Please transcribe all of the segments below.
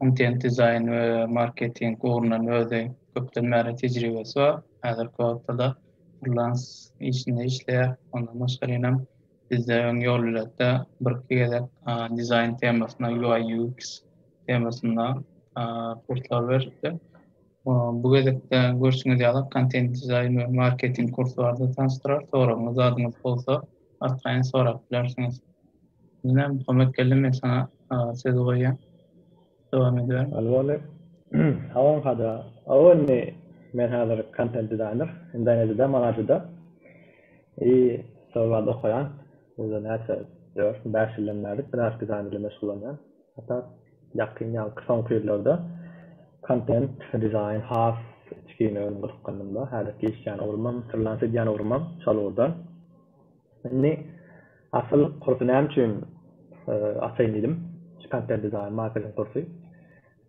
Kontent dizaýn we marketing ugrundan özi köpden bäri tejribesi bar. Häzirki wagtda-da frilans işinde işleýär. Ondan başgarinam bizde öň ýol biletde birki gezek dizaýn temasyna UI-UX temasynda kurslar beripdi. Bu gezekde görşüňiz ýaly kontent dizaýn we marketing kursy barada tanyşdyrar. Soragyňyz zadyňyz bolsa arkaýyn sorap bilersiňiz. Ine Muhammet geldi men saňa sözi goýýan. Dowam ediber. Alwone Salam Hada. Alwone men hazir kontent dizaýner Indoneziýada Manajyda i şol barada okaýan. Uza näçe dört bäş ýyldan bäri grafik dizaýn bilen meşgullanýan. Hatta Ýakyn ýaňky soňky ýyllarda kontent dizaýn has içgin öňümi gyzykdyrdy. Munda häzirki işleýän ugrumam, frilans edýän ugrumam şol ugurda. Indi asyl kursy näme üçin açaýyn diýdim. Şu kontent dizaýn, marketing kursy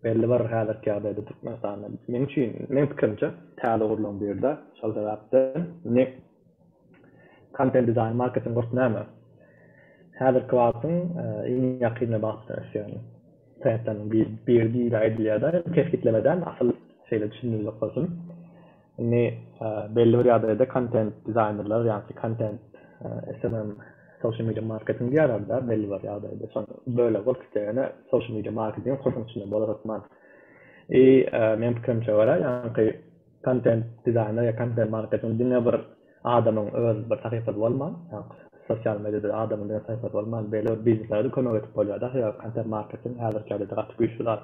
belli bir häzirki ýagdaýda Türkmenistanda meň üçin, meň pikirimçe täze ugurlaryň birida. Şol sebäpden indi Compel Design marketing gurt näme? Häzirki wagtyň iň ýakyn wagtda ösýän trendleriniň biri diýip aýdylýar da, indi kesgitleme däl, asyl şeýle düşündirjek bolsun. Indi belli bir ýagdaýda kontent dizaýnerler ýa-da kontent SMM social media marketing diýýärler da, belli bir ýagdaýda şol bölegi bolup gidýär. Ýöne social media marketing gursuň içinde bolar hökman. I meň pikirimçe görä ýaňky Kontent dizaýner ýa kontent marketing diňe bir adamyň öz bir sahypasy bolman, sosial mediada adamyň diňe sahypasy bolman, beýle bir bizneslere-de kömek edip bolýar-da. Sebäbi kontent marketing häzirki ýagdaýda gaty güýçli zat.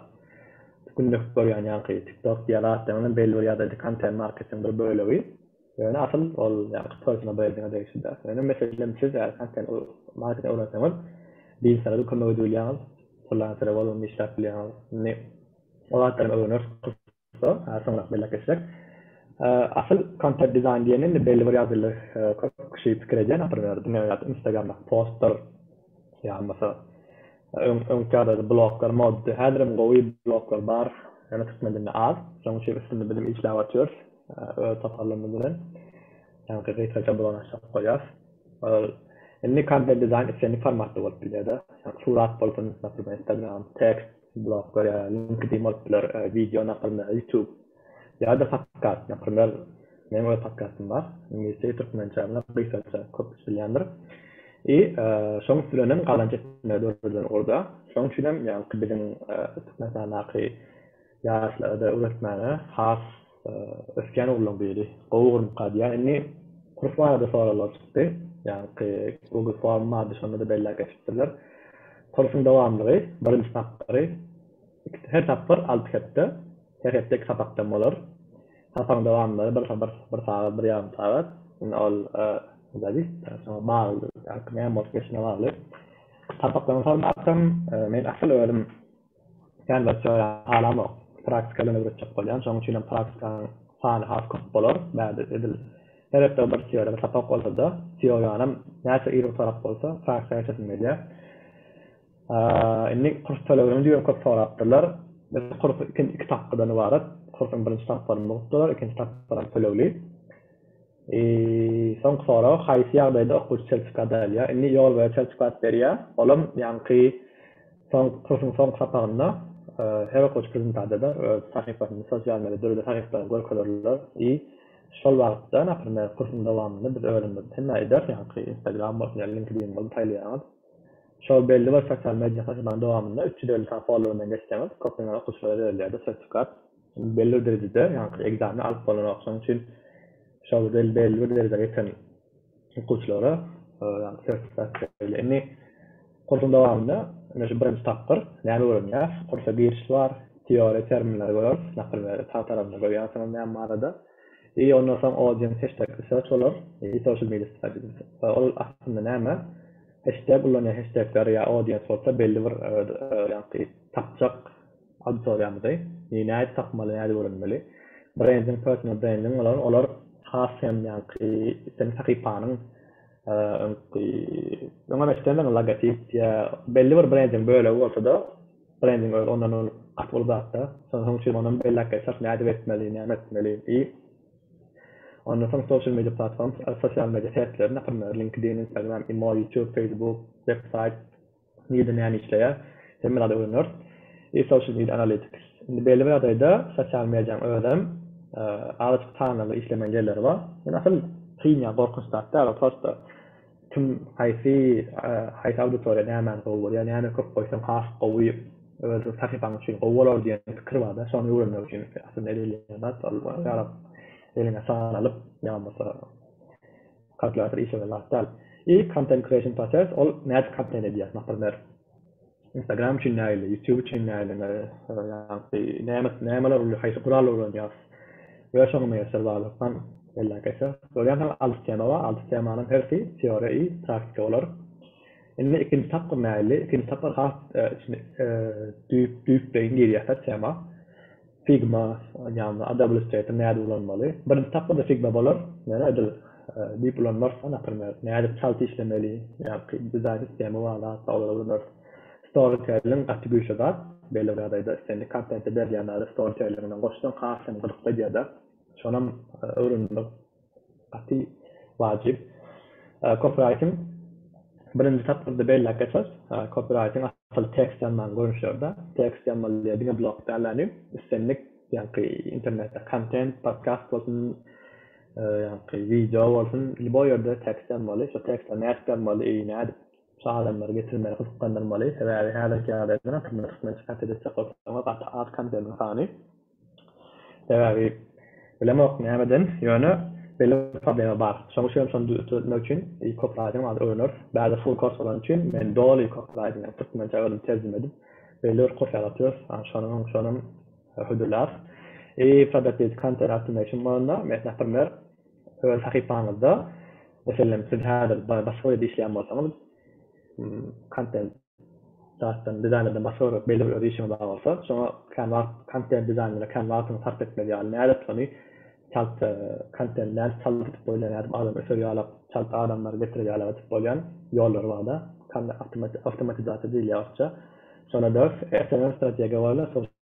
Günde görýän ýaňky TikTok diýýän atlaryň hem belli bir ýagdaýda kontent marketingiň bir bölegi. Ýöne asyl ol ýaňky personal brendiňe degişli däl. Ýöne meselem siz eger kontent marketing öwrenseňiz, bizneslere-de kömek edibilýäňiz, frilensere bolup hem işläp bilýäňiz. Indi o zatlaram öwreneriz. So, soňrak belläp geçjek. Asyl kontent dizaýn diýen indi belli bir ýaşuly köp kişi pikir edýän naprmer diňe ýat instagramdaky postlar ýa bolmasa öň öňki ýagdaýda bloglar moddy häzirem gowy bloglar bar ýöne türkmen dilinde az şoň üçin üstünde bilim işläp atýarys öz toparlarymyz bilen ýaňky gysgaça blog açyp goýýas ol indi kontent dizaýn islendik formatda bolup bilýärde surat bolsun naprmer instagram tekst blog ýa linkedin bolup biler wideo nakylyna youtube ýa-da podkast naprimer meň öz podkastym bar iňlisçe ýa türkmençe muny gysgaça köp kişi bilýändir i şoň üsti bilen hem gazanç etmegi döreden ugurda şoň üçin hem ýaňky biziň türkmenistandaky ýaşlara-da öwretmäge has Ösýän oglanlaň biri gowy görnüp galýar. Indi kurs barada soraglar çykdy. Ýaňky Google Form bardy, şonda-da belläp geçipdirler. Kursuň dowamlygy, birinji tapgyry, her tapgyr alty hepde, her hepde iki sapakdan bolar. Sapagyň dowamlygy bir sagat, bir ýarym sagat. Indi ol zadistlere, şoňa bagly, ýaňky näme bolup geçene bagly. Sapaklaryň formasy hem, men asyl özüm Canvas teoriýany halamok. Praktika bilen öwretjek bolýan. Şonuň üçinem praktikanyň sany has köp bolar. Bärde edil her hepde bir teoriýa, bir sapak bolsa-da, teoriýanam näçe iri bir sorap bolsa, praktika geçesim gelýär. Indi kurs tölegini juda köp sorapdyrlar. Biz kurs iki tapgydan ybarat. Kursuň birinji tapgyryny mugt bolar, ikinji tapgyram tölegli. Soňky sorag, haýsy ýagdaýda okuwçy çel çykady alýar? Indi ýol boýa çel çykady berýär. Olam ýaňky soňky kursuň soňky sapagynda her okuwçy prezentasiýada öz sahypasyny sosial media dürli sahypalary görkezerler i şol wagtda naprimer kursuň dowamynda biz özümiz hemme ederis ýaňky instagram bolsun ýa linkedin bolsun saýlaýaňyz şol belli bir sosial media sahypanyň dowamynda üç ýüz elli sany follow bilen geçseňiz köplenç okuwçylara berilýärdi sertifikat. Belli bir derejede, ýaňky ekzameni alyp bolanok. Şonuň üçin şol belli bir derejä ýeten okuwçylara sertifikat berilýär. Indi kursuň dowamynda ine şu birinji tapgyr näme öwrenýäs? Kursa giriş bar, teoriýa terminleri göreris, naprimer sag tarapynda görýänsiňiz näme barada. I ondan soň audience hashtag research bolar, i social media strategies. Ol aslynda näme? Hashtag ullanýan hashtagleri ýa audience bolsa belli bir ýaňky tapjak Auditoriýamyzy nji nädip tapmaly, nädip öwrenmeli? Brendiň, personal brendiň bolan olar has hem ýaňky islendik sahypanyň öňki öňem eşidendiň logotip ýa belli bir brendiň bölegi bolsa-da, brendiň özi ondan ol gaty uly zat-da. Şonuň üçin onam belläp geçer, nädip etmeli, näme etmeli i. Ondan soň social media platforms, sosial media sertleri, naprimýr, LinkedIn, Instagram, imo, YouTube, Facebook, websaýt, Nide näme işleýär? Hemme zady öwrener. Is social media analytics. Indi belli bir ýagdaýda sosial mediaň özem azajyk sanly işlemeýän ýerleri bar. Ýöne asyl kyn ýa gorkunç zat däl, ol prosta kim haýsy haýsy auditoriýa nämäni gowy görýär, näme köp goýsaň has gowy öz sahypaň üçin gowy bolar diýen pikir barda, şony öwrenmek üçin aslynda edilýän zat ol ýaryp eliňe sanalyp ýa bolmasa Kalkulýator işiňe las däl. I content creation process ol nädip content edýär naprmer. Instagram üçin nägile youtube üçin nägile ýagty näme nämeler uly haýsy guraly ulanýas we şoňa meýesser baglylykdan belläp geçýär. Görýän saň alty tema bar alty temanyň hersi teoriýa i praktika bolar. Indi ikinji tapgyr nägile ikinji tapgyr has içine düýp düýpleýin girýär tema. Figma ýa-da Adobe Illustrator nädip ulanmaly? Birinji tapgyrda Figma bolar, ýöne edil diýip ulanmarys-da, naprimer, nädip çalt işlemeli, ýa-ki dizaýn sistemi bar zatlar, olara ulanarys. Storytelling gaty güýçli zat, belli bir ýagdaýda islendik kontenti berilýän zady storytellingiňden goşsaň has hem gyzykly edýär-de, şonam öwrenilmeli. Gaty wajyp. Kopiraýtyň birinji tapgyrda belläp geçer. Kopiraýtyň asyl tekst ýazmagyň görnüşleri-de. Tekst ýazmaly ýer diňe blog däl ýaly. Islendik ýaňky internetde kontent, podkast bolsun, ýaňky wideo bolsun, lýuboý ýerde tekst ýazmaly. Şo tekstleri nädip ýazmaly, eý nädip şo adamlary getirmeli, gyzyklandyrmaly. Sebäbi häzirki ýagdaýda ynha türkmen türkmençe kontent etjek bolsaňyz gaty az kontentiň sany. Sebäbi, bilemok nämeden, ýöne belli bir problema bar. Şoň üçinem şony döretmek üçin kopiraýtingi alyp öwreneris. Bärde full kurs bolany üçin men doly kopiraýtingi, ýagny türkmençä özüm terjime edip, belli bir kurs ýalatýarys. Ýagny şonuň, şonam hödürlär. I product lead content optimation bolanda, mes naprmer, öz sahypaňyzda, meselem, siz häzir başga bir ýerde işleýän bolsaňyz, kontent. zatdan dizaýnerden başga görmek belli bir öz işiňe bagly bolsa şoňa kän wagt kontent dizaýnere kän wagtyňy sarp etmeli ýaly nädip şony çalt kontent nädip çalt edip bolýar nädip adam öser ýalak çalt adamlary getirer ýalak edip bolýan ýollary barda awtomatizasiýa diýilýär orsça şonda dörs smm strategiýa bolýar.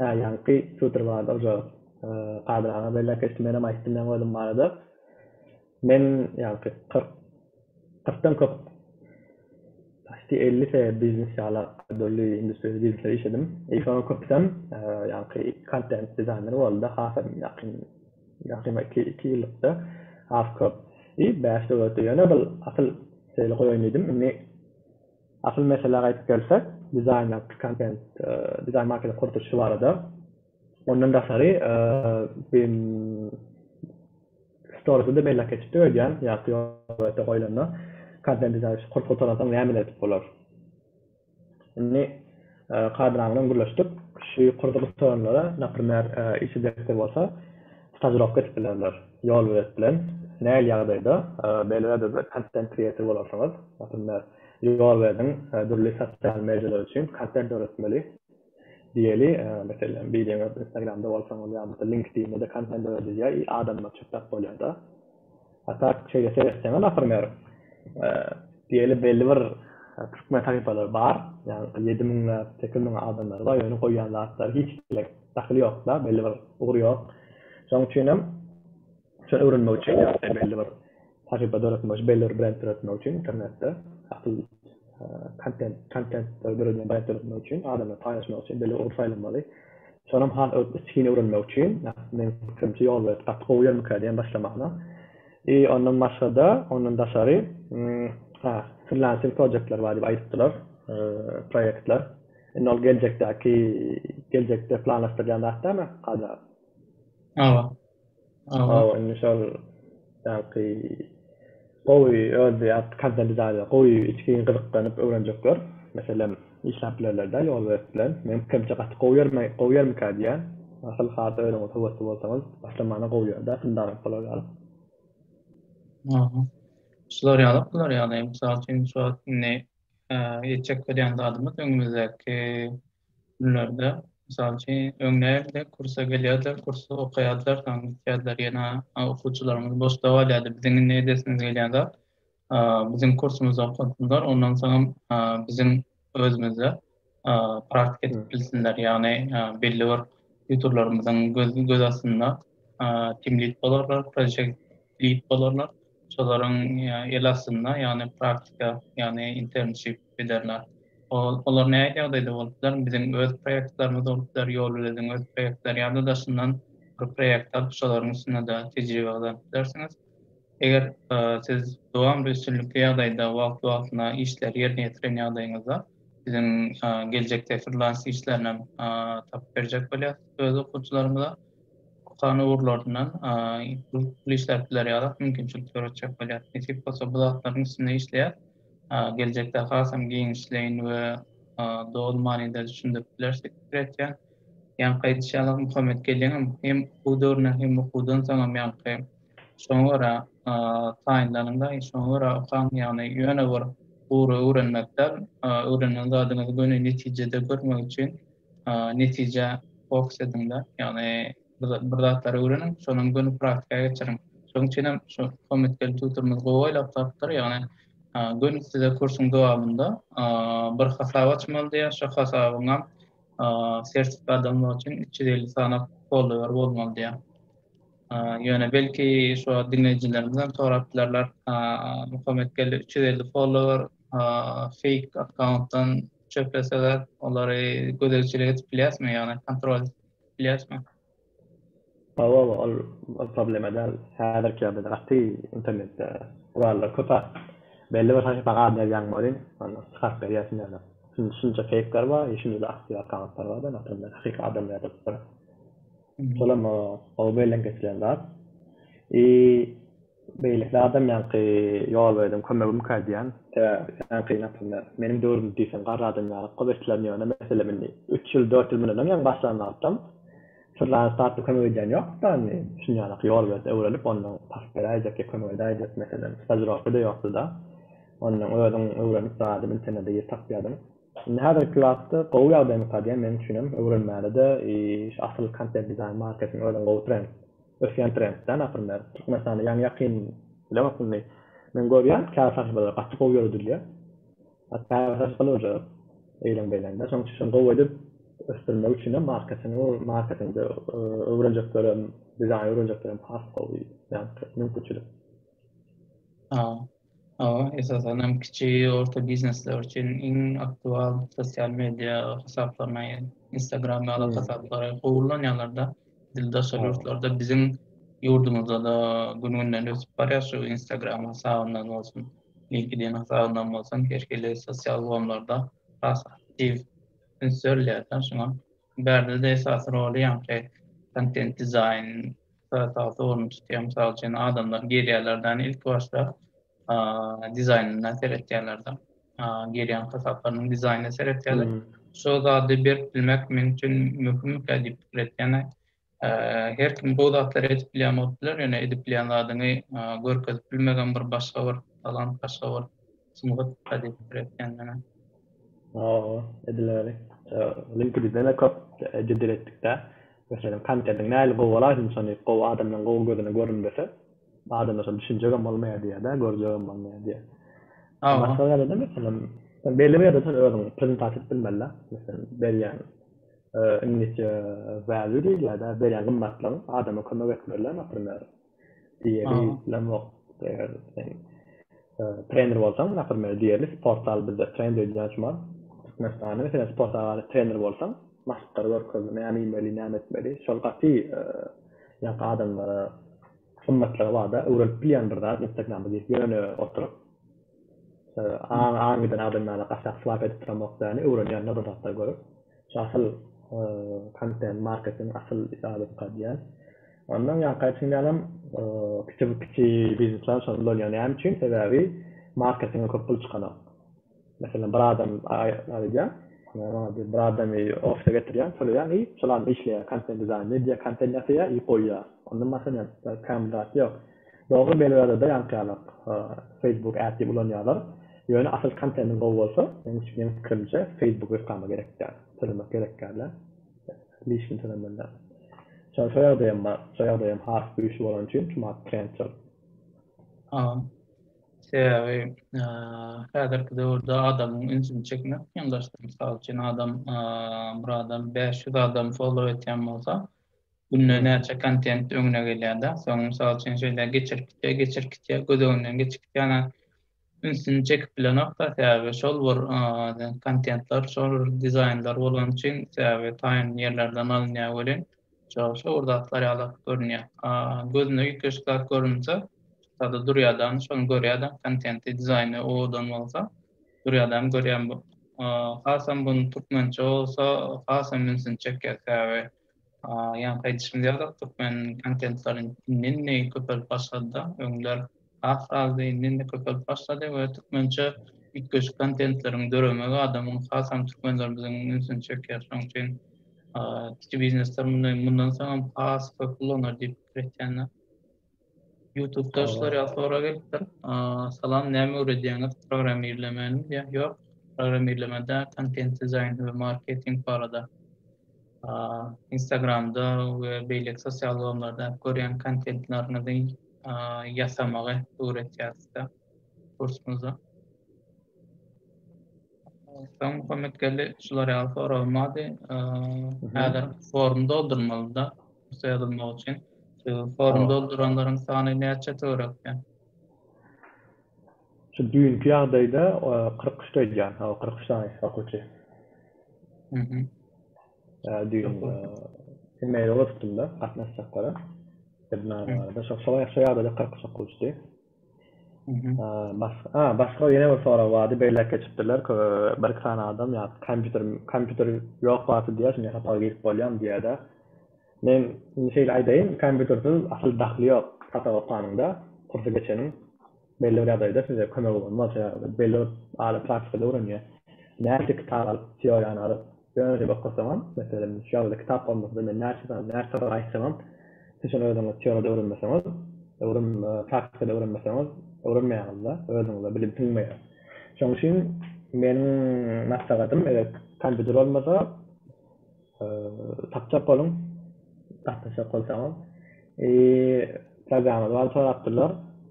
Hä, ýaňky Pýotr barada oja Kadyr aga bellek geçdi. Menem aýtdym ýaňy özüm barada. Men ýaňky kyrk, kyrkdan köp, paçti elli se biznes ýala dürli industriýada biznesde işledim. I şonuň köpüsem ýaňky kontent dizaýner boldy-da hasam ýakyn, ýakyn bir iki, iki ýyllykda has köp. I bäş döwletde ýöne bil asyl şeýle goýaýyn diýdim. Indi Asyl meselä gaýdyp gelsek, dizaýner Pikantent dizaýn marketi gurduryşy barada, ondan daşary BIM Story-da beýläk geçipdik öýdýän, ýa Fioretta goýlanda, kontent dizaýn gutaransoň nämeler edip bolar? Indi. Kardinal bilen gürleşdik. Şu ýokarda oturanlara, naprimer, işi direktor bolsa, stažirowka edip bilerler, ýol bilet bilen. Nähili ýagdaýda Belwederde kontent kreator bolarsyňyz, naprimer, ýol berdiň, dürli sosial medialar üçin kontent döretmeli diýeli, meselem, bilýäňiz, Instagramda bolsaňyz ýa-da LinkedIn-de kontent döredilýär i adamlar çütdäp bolýar-da. A tak şeýle seretseňiz asyr meger diýeli belli bir türkmen sahypalary bar. Ýagny ýedi müňläp, sekiz müňläp adamlary bar. Ýöne goýýan zatlary hiç kime dahyly ýok-da, belli bir ugry ýok. Şonuň üçin hem şony öwrenmek üçin ýa-da belli bir sahypa döretmek üçin, belli bir brend döretmek üçin internetde asyl kontent kontent döredýän baýat döretmek üçin adamlar paýlaşmak üçin belli ugry saýlamaly şonam has içgin öwrenmek üçin men fikrimçe ýol berip gaty gowy ýermikä diýen başlamagyna i ondan başgada ondan daşary ha frillanser projektler bar diýip aýdypdylar proýektler indi ol geljekdäki geljekde planlaşdyrýan zat dälmi kadyr aga aba Hawa, indi şol ýaňky gowy öz ýat kazandy zady gowy içgin gyzyklanyp öwrenjekler. Meselem, işläp bilerler-dä ýolbers bilen. Meň pikirimçe gaty gowy ýermi, gowy ýermikä diýýän. Asyl has özüňiz höwesli bolsaňyz, başlamana gowy ýer-dä, fundament bolar ýaly. Aha. Şular ýaly, bular ýaly. Mysal üçin, şu wagt indi ýetjek bolýan zadymyz öňümizdäki günlerde, mysal üçin, öň nägile kursa gelýärdiler, kursy okaýardylar, soň gitýärdiler, ýene okuwçylarymyz boşda galýardy. Biziň indi edesimiz gelýän zat, biziň kursumyzda okasunlar, ondan soňam biziň özümizde praktika edip bilsinler, ýagny belli bir tutorlarymyzyň göz astynda team-lead bolarlar, projekt diýip bolarlar. Şolaryň el astynda, ýagny praktika, ýagny internship bilerler. Olar nähili ýagdaýda bolup biler? Biziň öz proýektlerimiz bolup biler, Ýolüleziň öz proýektleri ýa-da daşyndan bir proýekt alyp, şolaryň üstünde-de tejribe gazanyp bilersiňiz. Eger siz dowamly üstünlikli ýagdaýda wagt-wagtyna işleri ýerine ýetiren ýagdaýyňyzda biziň geljekde frilans işlerinem tapyp berjek bolýarys öz okuwçylarymyza. Okan ugurlaryndan pul işläp biler ýaly mümkinçilik döretjek bolýar. Nesip bolsa bu zatlaryň üstünde işleýäs. Geljekde hasam giňişleýin we doly manyda düşündirip bileris diýip pikir etýän. Ýaňky aýdyşy ýaly Muhammet gelneňem hem okuw döwründen hem okuwdan soňam ýaňky şoňa görä taýynlanyňda şoňa görä okaň ýagny ýöne bir ugry öwrenmek däl öwrenen zadyňyzy göni netijede görmek üçin netije fokus ediň-de, ýagny bir zatlary öwreniň, şonam göni praktika geçiriň. Şonuň üçinem şu Hommetgel tutorymyz gowy oýlap tapypdyr, ýagny göni size kursuň dowamynda bir hasap açmaly diýýär, şo hasabyňam sertifikady almak üçin üç ýüz elli sany follower bolmaly diýýär. Ýöne belki şu diňleýjilerimizem sorap bilerler, Hommetgel üç ýüz elli follower fake akkauntdan Çöpleseler, olary gözegçilik edip bilýäsmi, ýagny kontrol bilýäsmi? Hawa, ol problema däl. Häzirki ýagdaýda gaty internetde gurallar köp. Belli bir sahypa ad berýäň welin, ony çykaryp berýär kimlerdir. Şunça feýkler bar, şunça aktiw akkauntlar bar, ýöne otarylar hakyky adamlar ýazyp oturyp. Şolam gowy elden geçiren zat. I. Beýleki adam ýaňky ýolberdiň kömegi muk aýdýan. Sebäbi ýaňky napylmär. Meniň döwrümde diýseň garry adam ýaly kop eşidilen ýöne mesele indi üç ýyl dört ýyl mundan öň ýaňy başlan wagtam syrlanyş zatda kömek edýän ýokduk-da indi düşünýänok ýolbert öwrelip ondan pas beräýjekki kömek edäýjek meselem stažirowkada ýokdy-da ondan özüň öwrenip zady internede girip tapýadyň indi häzirki wagtda gowy ýagdaý muk aýdýan meniň üçinem öwrenmäne-de iş asyl kontent dizaýn marketing özüň gowy trend. Ösýän trend da naprimýer Türkmenistanda ýaňy ýakyn bilemok indi men görýän käbir sahypalar gaty gowy ýöredilýär. A käbir sahypalar uje eýlen beýlen da şoň üçin şony gowy edip ösdürmek üçinem marketingi marketingde öwrenjeklerem dizaýn öwrenjeklerem has gowy ýaňky mümkinçilik. Hawa, esasan hem kiçi, orta biznesler üçin iň aktual sosial media hasaplaryna, Instagram ýaly hasaplara gowy ulanýarlar-da. Edil daşary ýurtlarda biziň ýurdumyzda-da gün-günden ösüp barýar şu Instagram hasabyndan bolsun, LinkedIn hasabyndan bolsun, her hili sosial ulgamlarda has aktiw üns berilýär-de. Şoňa Bärde-de esasy roly, ýaňky kontent dizaýn, esasy orny tutýar. Mysal üçin, adamlar girýärler-de, ilki başda dizaýnyna seretýärler-de. Girýän hasaplarynyň dizaýnyna seretýärler. Şo zady berip bilmek meň üçin möhümmikä diýip pikir etýän. Her kim gowy zatlary edip bilýän bolup biler, ýöne edip bilýän zadyňy görkezip bilmegem bir başga bir talant, başga bir sungat gazetdir ekendini. Hawa, edileri. LinkedIn-de köp jedel etdik-dä. Meselem, kontentyň nähili gowy bolaýsa, ynsan diýip, gowy adamlaryň gowy gözüne görünmese, adamlar şony düşünjegem bolmaýar diýýär-dä, görjegem bolmaýar diýýär. Hawa. Başga ýerde-de, meselem, sen belli bir ýerde sen özüňi prezentasiýa edip bilmeli-dä. Meselem, berýän Indiki value diýilýär-dä, berýän gymmatlygyň, adama kömek etmelidir, naprimer, diýeri bilemok, eger sen trener bolsaň, naprimer, diýerli sport zal bizde trend edýän şu wagt, Türkmenistanda, meselem, sport zalynda trener bolsaň, maşklary görkezmeli, näme iýmeli, näme etmeli, şol gaty ýaňky adamlara gymmatlygy bar-da, öwrenip bilýän bir zat, Instagrama girip ýöne oturyp. aňy giden adamlara gaçak swap edip duran bolup ýaly öwrenýärler bir zatlar görüp şu asyl kontent marketing asyl zarobka diýen ondan ýaňky aýtym ýalam kiçi kiçi biznesler şony ulanýar näme üçin sebäbi marketinge köp pul çykanok meselem bir adam aýdýar bir adamy ofise getirýär töleýär i şol adam işleýär kontent dizaýnda edýär kontent ýasaýar i goýýar ondan başga näme kän bir zat ýok. Dogry Belgradada ýaňkyýalak Facebook Ad diýip ulanýarlar. Ýöne asyl kontentiň gowy bolsa meň pikirimçe Facebook reklama gerek däl. Tölemek gerek däl dä. Lişni tölemeli däl. Şo şo ýagdaý hem bar. Şo ýagdaý hem has güýçli bolany üçin çumak trend şol. Aha. Sebäbi häzirki döwürde adamyň ünsüni çekmek kynlaşdy. Mysal üçin adam bir adam bäş ýüz adam follow etýän bolsa Günde näçe kontent öňüne gelýärda. Soň mysal üçin şeýle geçirip gitýär, geçirip gitýär, göz öňünden geçip gitýär. Ana ünsüni çekip bilenokda. Sebäbi şol bir kontentler, şol bir dizaýnlar bolany üçin sebäbi taýyn ýerlerden alynýar welin şo şo bir zatlar ýaly görünýär. Gözüne üýtgeşik zat görünse sada durýarda ony şony görýärde kontenti dizaýny owadan bolsa durýardam görýär. Hasam bu türkmençe bolsa hasam ünsüni çekýär. Sebäbi Ýaňky aýdyşym ýaly, türkmen kontentlary indi-indi köpelip başlady-da, öňler az-azdy, indi-indi köpelip başlady we türkmençe üýtgeşik kontentleriň döremegi adamyň, hasam türkmenlerimiziň ünsüni çekýär. Şonuň üçin kiçi biznesler muny mundan soň has köp ulanar diýip pikir etýän. Youtube daşlar ya sonra gelipdir. Salam, näme öwredýäňiz? Programmirlemeni diýä. Ýok, programmirlemede kontent dizaýn we marketing barada. Instagramda we beýleki sosial ulgamlarda görýän kontentleriňizi ýasamagy öwretýär sizde kursumyzda. Soň Muhammet geldi, şular ýaly soragym bardy. Häzir formy doldurmalyda. Rugsat ýazylmagy üçin şu formy dolduranlaryň sany näçe töwerekden? Şu düýnki ýagdaýda kyrk üç aýdýan. Hawa, kyrk üç sany okuwçy. Mhm. Düýn email ugradypdym-da gatnaşjaklara. Webinary barada. Şo ýagdaýda kyrk üç okuwçydy. Başga ýene bir sorag bardy, beýläk geçipdirler, bir-iki sany adam ýa kompýuter, kompýuter ýok wagty diýýär, şonda sapaga girip bolýarmy diýýär-de. Men indi şeýle aýdaýyn, kompýutersiz asyl dahly ýok sapak okanyňda, kursy geçeniň. Belli bir ýagdaýda size kömegi bolmaz, sebäbi belli bir aly praktikada öwrenýär. Nätdi kitap alyp, teoriýany alyp, Ýöne diýip okasaňam, meselem, şu ýazda kitap bolmasa-da, men näçe sany, näçe sapak aýtsaňam, siz şony özüňiz teoriýada öwrenmeseňiz, öwren, praktikada öwrenmeseňiz, öwrenmeýäňiz-de, özüňize bilim siňmeýär. Şonuň üçin meniň maslahatym, eger kompýuter bolmasa, tapjak boluň, gatnaşjak bolsaňyz. programma barada sorapdyrlar.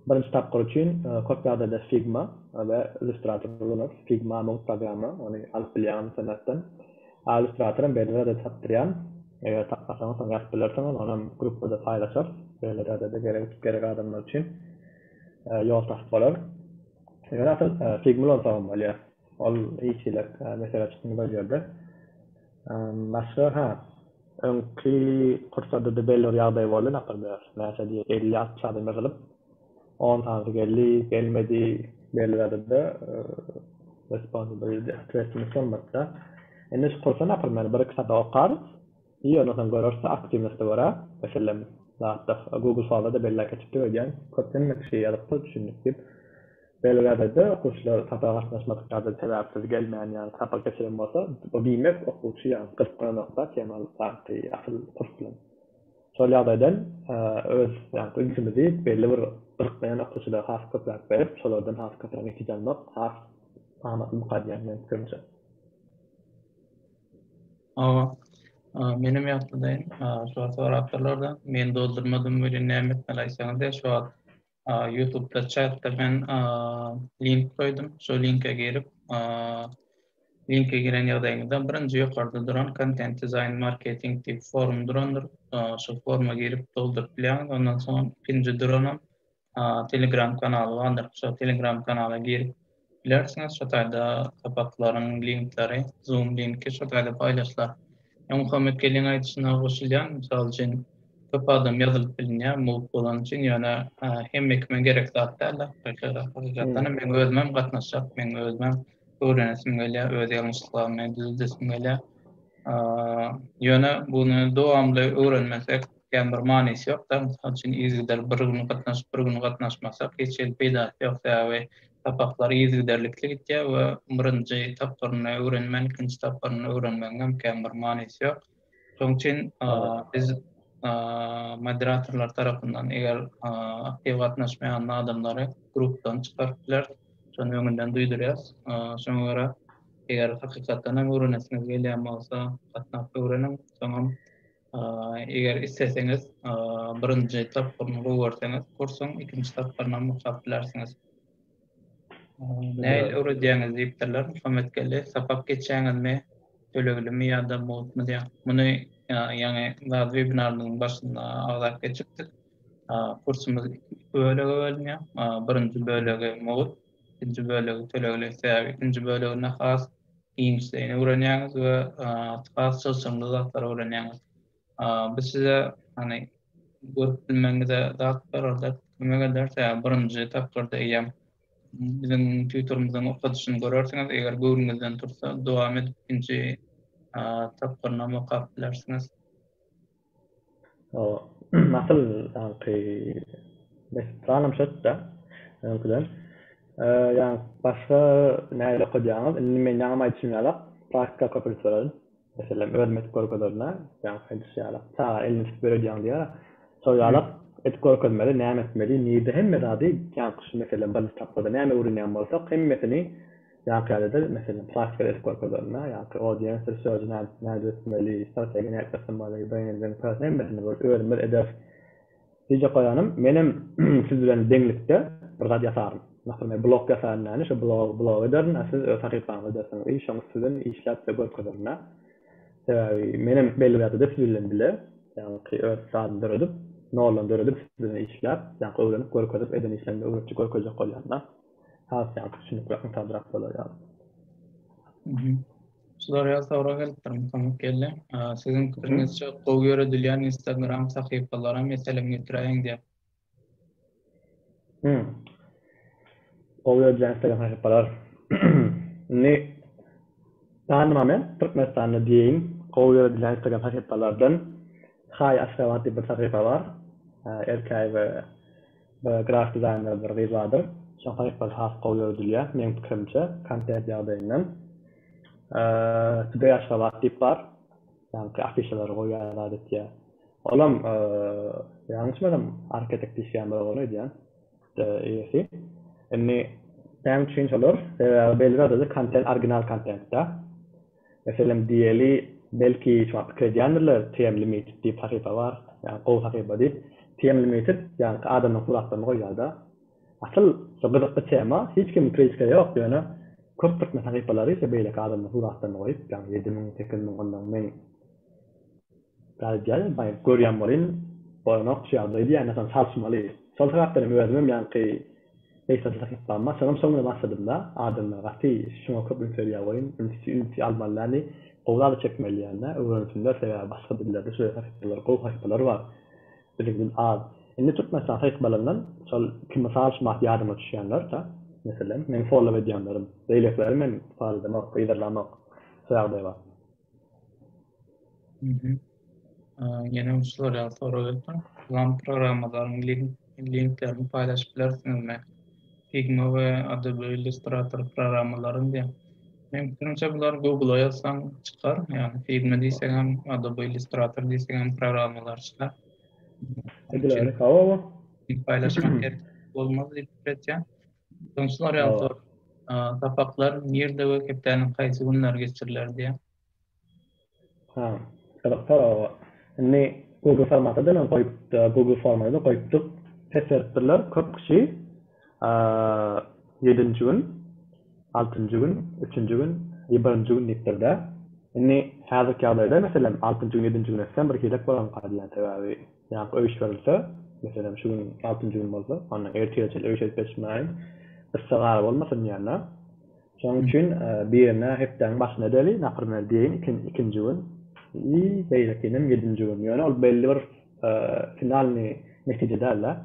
Birinji tapgyr üçin köp ýagdaýda Figma we Illustrator ulanarys. Figma mugt programma, ony alyp bilýän internetden. A Illustratoram BDR-de tapdyrýan. Eger tapmasaňyz soň ýazyp bilersiňiz, onam gruppada paýlaşarys. BLR-de gerek adamlar üçin ýol tapyp bolar. Ýöne asyl Figma ulansagam bolýar. Ol ilçiler mesele çykmaz ol ýerde. Başga ha öňki pursadyda belli bir ýagdaý boldy napermer näçe diýe elli altmyş adam ýygylyp on sanysy geldi gelmedi belli zadada responsibility stressimiz solmadyda indi şu kursa napermer bir iki sada okarys Ýöne sen görersi aktiwnosti görä meselen zatdyr google forumda belläp geçipdik öýdýän köp hemme kişi ýazypdyr düşündik diýip belgädede okuwçylar sapra gatnaşmadyk ýada sebäpsiz gelmän ýa sapak geçiren bolsa bu diýmek okuwçy ýa gyzyklanokda tema ýaňky asyl kurs bilen şol ýagdaýdan öz ýaňky ünsümizi belli bir gyzyklanýan okuwçylara has köpräk berip şolardan has köpräk netije almak has amatly bukadýýan meniň pikirimçe. Hawa. Menem ýatlaýyn. Şo sorapdyrlarda. Men doldurmadym welin näme etmeli aýtsaňyz diýip şo wagt ýutubda çatda men link goýdum. Şo linke girip linke giren ýagdaýyňyzda birinji ýokarda duran kontent dizaýn marketing diýip forum durandyr. Şo foruma girip dolduryp bilýäňiz. Ondan soň ikinji duranam Telegram kanaly bardyr. Şo Telegram kanala girip bilersiňiz. Şo taýda sapaklaryn linkleri, Zoom linki şo taýda paýlaşlar. Ýa Muhammet Geldiň aýdyşyna goşulýan, mysal üçin, köp adam ýazylyp bilinýä, mugt bolany üçin, ýöne hemme kime gerek zat dälde. Hakykatdanam meň özümem gatnaşjak, meň özümem öwrenesim gelýä, öz ýalňyşlyklarymy düzeldesim gelýä. Ýöne buny dowamly öwrenmesek, Ýa bir manysy ýok da mysal üçin yzgider bir gün gatnaşyp bir gün gatnaşmasak hiç hili peýdasy ýok sebäbi sapaklar yzgiderlikli gitýä we birinji tapgyryny öwrenmän ikinji tapgyryny öwrenmegiň hem kän bir manysy ýok şoň üçin biz moderatorlar tarapyndan eger aktiw gatnaşmaýan adamlary grupdan çykaryp bileris şony öňünden duýdurýas şoňa görä eger hakykatdan hem öwrenesiňiz gelýän bolsa gatnap öwreniň soňam Eger isleseňiz, birinji tapgyryny goýberseňiz, kursuň ikinji tapgyrynam okap bilersiňiz. Nähili öwredýäňiz diýipdirler. Muhammetgeldi, sapak geçýäňizmi, töleglimi ýa-da mugtmy diýýär. Muny ýaňy zat webinarymyzyň başynda agzap geçipdik. Kursumyz iki bölege bölünýär. Birinji bölegi mugt, ikinji bölegi tölegli. Sebäbi ikinji böleginde has Eýnşteýni öwrenýäňiz we has çylşyrymly zatlary öwrenýäňiz. Bu size hany görüp bilmegiňize zat bererde kömek eder. Sebäbi birinji tapgyrda eýýäm biziň tutorymyzyň okadyşyny görersiňiz. Eger göwnüňizden tursa dowam edip ikinji tapgyrynam okap bilersiňiz. Asyl ýaňky mekdep sanam çetde öňküden. Ýa başga nähili okadýaňyz? Indi men ýaňam aýdyşym ýalak, praktika köp edip ýörün. Meselem, özüm edip görkezerina, ýaňky aýdyşy ýalak, çaga elini tutup öýredýäň diýýär. Şol ýalak edip görkezmeli, näme etmeli, nirde hemme zady, ýaňky şu meselem birinji tapgyrda näme öwrenýän bolsak, hemmesini Ýaňky ýaly-da, meselem, praktika edip görkezilende, ýaňky audiensiýa sözi nädip, nädip etmeli, strategiýa nädip ýasanmaly, brending, pers, hemmesini bir özümiz ederis. Diyjek goýanym, menem siz bilen deňlikde bir zat ýasaryn. Masalan, men blog ýasaýan näni, şu blogy, blogy ederin, a siz öz sahypaňyzy edersiňiz i şoň üstünden işläp-de görkezerin-ä. Sebäbi menem belli bir ýagdaýda siz bilen bile, ýaňky öz zadymy döredip, noldan döredip, siz bilen işläp, ýaňky öwrenip, görkezip, eden işlerimi öwretjek, görkezjek bolýan-da. has ýaňky düşünikli aňsatrak bolar ýaly. Soraýan sorag gelipdir Muhammet geldi. Siziň pikiriňizçe gowy ýöredilýän instagram sahypalara meselem getiräýiň diýip. Hum. Gowy ýöredilýän instagram sahypalar. Indi tanymam men Türkmenistanda diýeýin gowy ýöredilýän instagram sahypalardan Hi Aşgabat diýip bir sahypa bar. Erkäýewa Bir grafik dizaýner bir gyz bardyr. Şoň sahypasy has gowy ýöredilýär, meň pikirimçe, kontent ýagdaýyndan. Today Aşgabat diýip bar. Ýaňky afişalary goýýar adatça. Olam, ýalňyşmasam, Arketek diýişýän bir oglan öýdýän. Eýesi. Indi näme üçin şolar? Sebäbi belli zada-da kontent orginal kontent-dä. Meselem diýeli, belki hiç wagt pikir edýändirler, TM Limited diýip sahypa bar, ýa gowy sahypa diýip. TM Limited ýaňky adamyň suratlaryny goýýarda. Asyl şu gyzykly tema, hiç kimiň kritika ýok, ýöne köp türkmen sahypalary şu beýleki adamlaryň suratlaryny goýup, ýagny ýedi müň, sekiz müň ondan meň. Gaýdýaýam paýyň, görýän bolyn, bolanok şu ýagdaý diýýän ýatan çalyşmaly. Şol sebäpden hem özümem ýaňky meýsança sahypama şonuň soňuna başladym-da, adamlar gaty şuňa köp üns berýär welin, ünsi ünsi almalyny, gowy zady çekmeli diýýän-dä, öwrensinler, sebäbi başga dillerde şeýle sahypalar, gowy sahypalar bar. Biziňkiden az. Indi Türkmenistan sahypalaryndan şol iki mysal şumat ýadyma düşýänler-de, meselem, meniň follow edýänlerim. Beýlekileri men follow edemok, yzarlamok. Şu ýagdaý bar. Ýene bir tutorial sorag etdim. Plan programmalaryň linklerini paýlaşyp bilersiňizmi? Figma we Adobe Illustrator programmalaryny diýen. Men fikrimçe bular Google-a ýazsaň çykar. Ýagny Figma diýseň hem, Adobe Illustrator diýseň hem programmalar çykar. Bular hawa. Paýlaşmak gerek bolmaz diýip pikir etýän. Ýoňslar ýaly sor. Sapaklar nirde we hepdäniň haýsy günleri geçiriler diýýär. Ha, gyzyk sorag. Indi Google formaty diýen goýup, Google formy da goýupdyk. Pes beripdirler köp kişi. Ýedinji gün, altynjy gün, üçünji gün we birinji gün diýipdir-dä. Indi häzirki ýagdaýda meselem altynjy gün, ýedinji gün etsem bir hile bolanka diýýän sebäbi Ýa-da öýüşdirilse, meselem, şu gün altynjy gün bolsa, ondan ertire çenli öýüşdirip geçmäliň. Yssa gara bolmasyn diýenler. Şonuň üçin birine hepdäniň başynda edeli, naprimer diýeýin, ikinji gün i beýlekinem ýedinji gün. Ýöne ol belli bir finalnyý netije däl-de.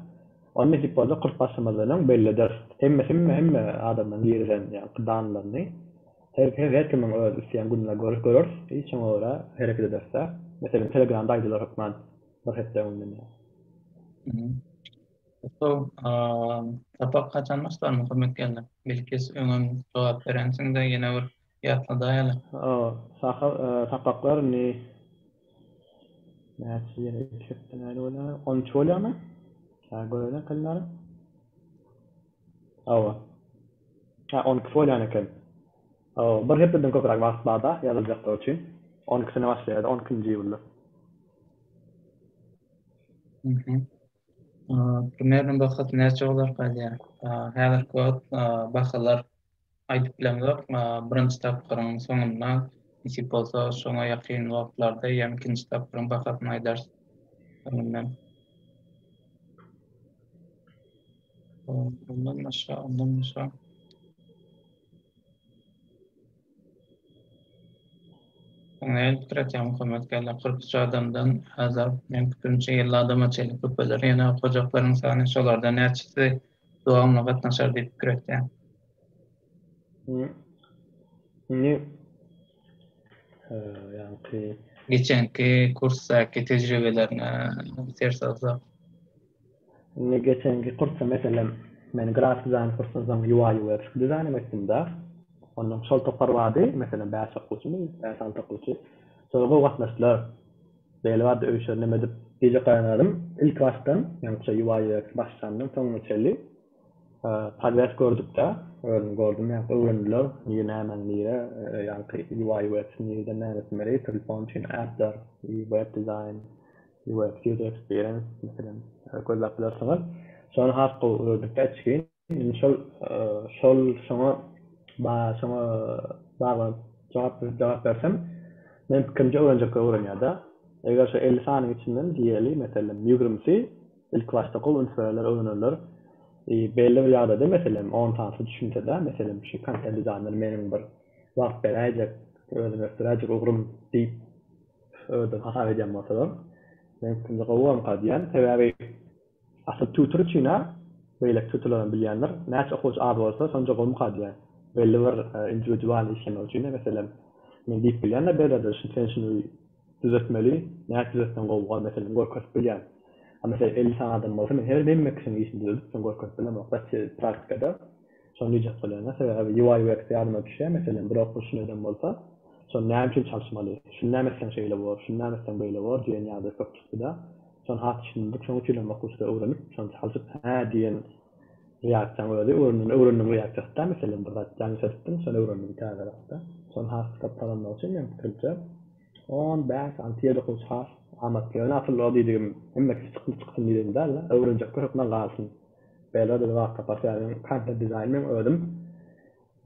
Ony nesip bolsa kurs başlamazdan öň belli ederis. Hemme hemme hemme adamlaryň girizen ýaňky danlaryny Her her kimiň öz isleýän gününe göre göreris biz şoňa görä hereket ederisdä. Meselem telegramda aýdylar hökman bir hepde öňünden ýa. Gutlug sapak haçan başlandy hormetli gelne? Bilkis öňem jogap berensiňdä ýene bir ýatladaýaly. Sapaklar indi näçe ýene iki hepde nädip bolýar? On üç bolýarmy? Käbir göreliň kalendaryň. Hawa. Hä, on iki bolýan eken. Hawa, bir hepdeden köpräk wagt bar-da ýazyljaklar üçin. On ikisine başlaýar-da, on ikinji iýulda. Hä. Turniriň bahasy näçe bolarka diýýän. Häzirki wagt bahalar Aýdyp bilemzok, birinji tapgyryň soňunda, nesip bolsa şoňa ýakyn wagtlarda ýa ikinji tapgyryň bahasyny aýdarys öňünden. Ondan başga, ondan başga. Näme pikir etýäň Muhammet geldi? Kyrk üç adamdan häzir, meň pikirimçe, elli adama çenli köpeler. Ýöne okajaklaryň sany şolardan näçesi dowamly gatnaşar diýip pikir etýän. Indi ýaňky geçenki kursdaky tejribelerine ser salsak. Indi geçenki kursda meselem men grafik dizaýn kursyny soň UI UX dizaýnymy etdim-de. Ondan şol topar bardy, meselem bäş okuwçymyz, bäş-alty okuwçy. Şolar gowy gatnaşdylar. Beýle bardy öýşer nemedip. Gije Gaýyngadym ilki başdan, ýaňyça ýuwaýýerek başlandan soňuna çenli podýazd gördükde, özüm gördüm ýaňky öwrendiler, nir nämäň nire, ýaňky ýuwaýýueks nireden nämesinlere ýetirilip bolan üçin äpler, web dizaýn, ýuwaýýueks ýuzer eksperiýens, meselem, gözläp bilersiňiz. Şony has gowy öwrendik-de içgin. Indi şol şol şoňa şoňa baglanyp jogap jogap bersem, meniň pikirimçe öwrenjekler öwrenýär-de. Eger şu elli sanyň içinden diýeli, meselem, ýigrimisi ilki başda gowy üns bererler, öwrenerler. Belli bir ýagdaýda, meselem, on sanysy düşünse-de, meselem, şu kontent dizaýner meniň bir wagt beräýjek, özümi ösdüräýjek ugrym diýip özleri hasap edýän bolsalar, meniň pikirimçe gowamyka diýýän. Sebäbi. Asyl tutur üçin-ä beýleki tuturlaram bilýändir. Näçe okuwçy az bolsa, şonça gowumyka diýýän. Belli bir indiwidual işlemek üçin-ä, meselem, men diýip bilýän-de bir zady, şun sen şuny düzetmeli, näçe düzetseň gowuga, meselem, görkezip bilýän. A, meselem, elli sany adam bolsa, men her hemme kişiniň işini düzedip, şuny görkezip bilemok-da, praktikada. Şony diýjek bolýan-a, sebäbi UI UX ýadyma düşýär, meselem, bir okyjyny edem bolsa, şony näme üçin çalyşmaly, şuny näme etseň şeýle bolar, şuny näme etseň beýle bolar diýen ýaly köp çykdy-da, şony has düşündirdik, şonuň üçinem okyjyda öwrenip, şony çalşyp, hä diýen reaksiýaň özi, öwrendiň, öwrendiň reaksiýasy-da, meselem, bir zat ýalňyş edipdiň, şony öwrendiň täze zatda. Şony has çykyp gazanmak üçin, meň pikirimçe, on bäş, alty, ýedi okyjy has amatly. Ýöne asyl o diýdigim, hemme kişi çykly çyksyn diýdigim däl-de, öwrenjekler hökman galsyn. Bella bizi wagt tapar sähediň kontent dizaýny meň özüm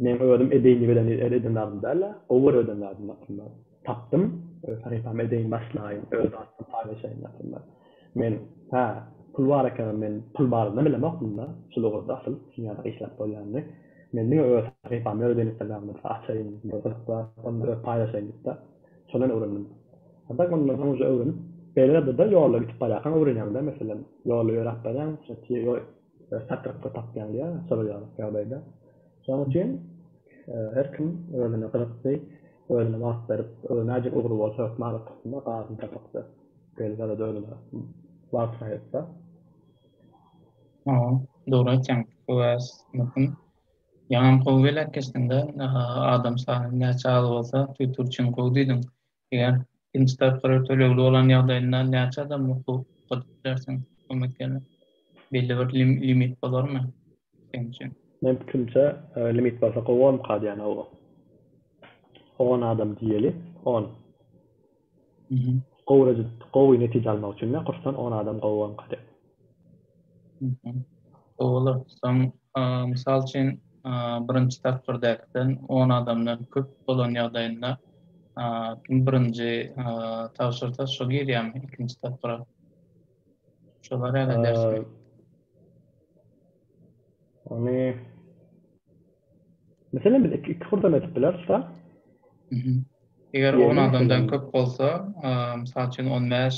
meň özüm edeýin diýip eden eden eden zadym dälä gowy görüp eden zadym aslynda tapdym öz sahypamy edeýin başlaýyn öz zatym paýlaşaýyn aslynda men hä pul bar ekenini men pul barynda bilemokdym da şul ugurda asyl şuny ýada işläp bolýanyny men diňe öz sahypamy öz instagramymda açaýyn bir gyzykly zatlar paýlaşaýyn diýip de şondan öwrendim. Haçan mundan soň uje öwrenip beýle zadada ýolda gidip barýarkaň öwrenýäňdä meselem ýolda ýöräp barýaň satrykda tapýaň diýýä şolar ýaly ýagdaýda şonuň üçin her kim özüne gyzykdy özüne wagt berip näjik ugry bolsa hökman okasynda gazyny tapypdyr beýle zadada özüne wagt aýrypdyr. Hawa dogry aýtýaň bu bäs möhüm ýaňam gowy belek geçdiňdä adam sany näçe az bolsa tüýtürçin gowy diýdiň Eger ikinji tapgyry tölegli bolan ýagdaýynda näçe adama hukuk gadyp bilersiň kömek ýaly belli bir limit bolarmy seň üçin? Meň pikirimçe limit bolsa gowy bolmkady ýany ow on adam diýeli on gowy gowy netije almak üçin ne kursdan on adam gowy bolmkady. Olardan, mysal üçin, birinji tapgyrdakiden on adamdan köp bolan ýagdaýynda kim birinji tabşyrsa, şo girýärmi ikinji tapgyra? Şo barada edersmi? Ony Meselem, biz iki hurdan edip bileris da. Eger on adamdan köp bolsa, mysal üçin, on bäş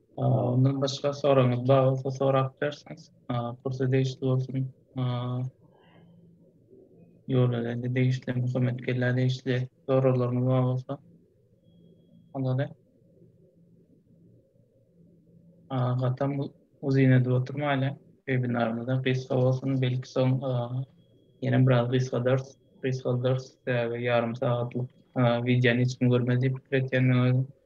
Ondan başga soragyňyz bar bolsa sorap bilersiňiz. Kursa degişli bolsun. Ýolöwezi degişli, Muhammet Kella degişli soraglaryňyz bar bolsa. Ondan Gatam uzyn edip oturmaýla. Webinarymyzda gysga bolsun, belki soň ýene biraz gysgadarys. Gysgaldyrys, sebäbi ýarym sagatlyk wideony hiç kim görmez diýip pikir etýän men özüm.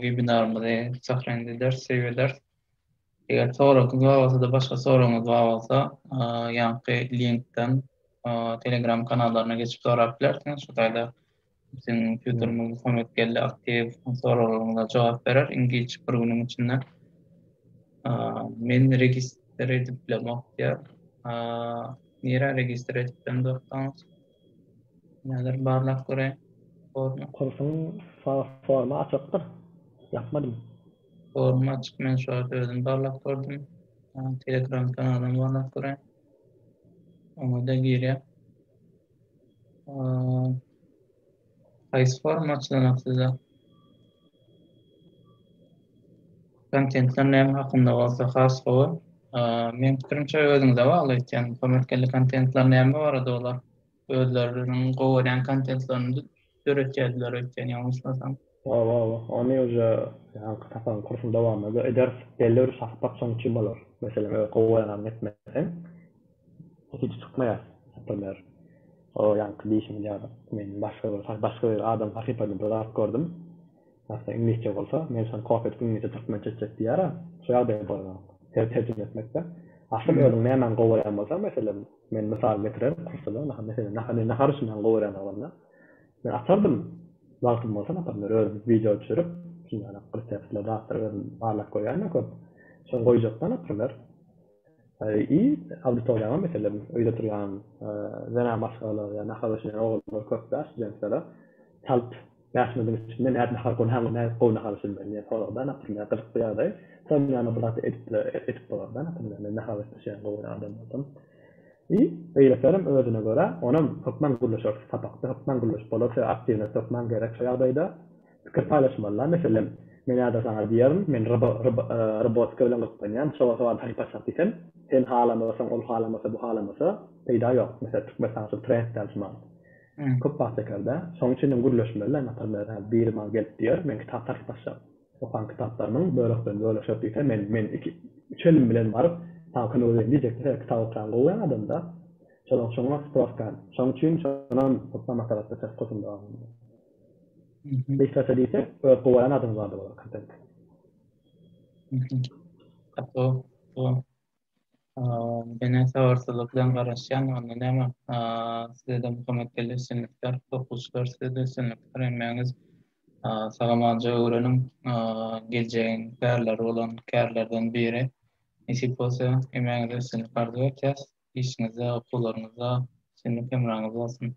webinarymyzy Sahrandy ders, save eders. Eger soragyňyz bar bolsa-da, başga soragyňyz bar bolsa, ýanky linkden Telegram kanallaryna geçip sorap bilersiňiz. Şu taýda biziň kompýuterimiz kömek geldi, aktiw soraglaryňyza jogap berer. Iňlisçe bir günüň içinde. Men registr edip bilemok diýýär. Nirä registr edip bilemok? Häzir barlap göräýiň formy. Kursuň formy açykdyr. Ýapmadym. Formy açyk men şu wagt özüm barlap gördüm. Telegram kanalyny barlap göräýiň. Oňada girýär. Haýsy forum açylanok size? Kontentler näme hakynda bolsa has gowy. Meň pikirimçe özüňize bagly aýtýan komersiýaly kontentler näme barada olar özleriniň gowy görýän kontentlerini döretýärdiler öýtýän ýalňyşmasam. Hawa hawa ony uje ýaňky sapagyň kursuň dowamynda ederis belli bir sapak soň üçin bolar meselem eger gowy oýananyny etmeseň Hiç çykmaýar sypanar. O ýaňky diýşiňiz ýaly, men başga bir, başga bir adam sahypasynda bir zat gördüm. Aslynda iňlisçe bolsa, men şony kopýa edip iňlisçe türkmençe etjek diýýär-ä. Şu ýagdaýa bolanok. Ter, terjime etmekde. Aslynda özüň nämäni gowarýan bolsaň, meselem, men mysal getirerin, kursda-da, naha, meselem, naha, men nahar üçinem gowarýan oglanlar. Men açardym, wagtym bolsa, naprimler, özüm wideo düşürip, şundanam reseptler, zatlar özüm barlap görýän-ä köp. Şony goýjak-da, naprimler, I auditoriýaňam meselem öýde oturýan zenan maşgalalar ýa nahar bişirýän oglanlar köp däl studentlere çalt bäş minutiň içinde nädip nahar gurnaňmy nädip gowy nahar bişirmeli diýen soragda naprimýer gyzykly ýagdaý şonuň ýanyna bir zat edip edip bolarda naprimýer men nahar bişirip bişirýän gowy adam bolsam i beýlekilerem özüne görä onam hökman gürleşer sapakda hökman gürleşip bolar şeýle aktiwnost hökman gerek şo ýagdaýda Pikir paýlaşmalyda, meselem, Men ýa-da saňa diýerin, Men robotika bilen gyzyklanýan, şoňa sowady halypaçak diýsem, sen halamasaň, ol halamasa, bu halamasa, peýda ýok. Meselem, Türkmenistanda şu trend däl şu mahaly. Köp wagt çeker-dä. Şoň üçin hem gürleşmeli-dä, naparmler, hä, biri maňa gelip diýer, Men kitap taryplaşjak. Okan kitaplarymyň böleklerini bölüşek diýse, men, men iki, üç elim bilen baryp, saňa kömek edeyim diýjek. Meselem, kitap okýan gowy ýa adam-da. Şonuň, şoňa sproska. Şoň üçin şonam hutda maslahatlaşarys, kosumda. Beýtelse diýse öz gowaýan adyňyz barda bolar kontent. Mene sabyrsyzlyk bilen garaşýan onda näme sizede Muhammet geldi üstünlikler okuwçylar sizede üstünlikler hemmäňiz sagamanja öwreniň geljegiň pärleri bolan kärlerden biri nesip bolsa hemmäňize üstünlik arzuw etýäs işiňizde okuwlaryňyzda üstünlik hemraňyz bolsun.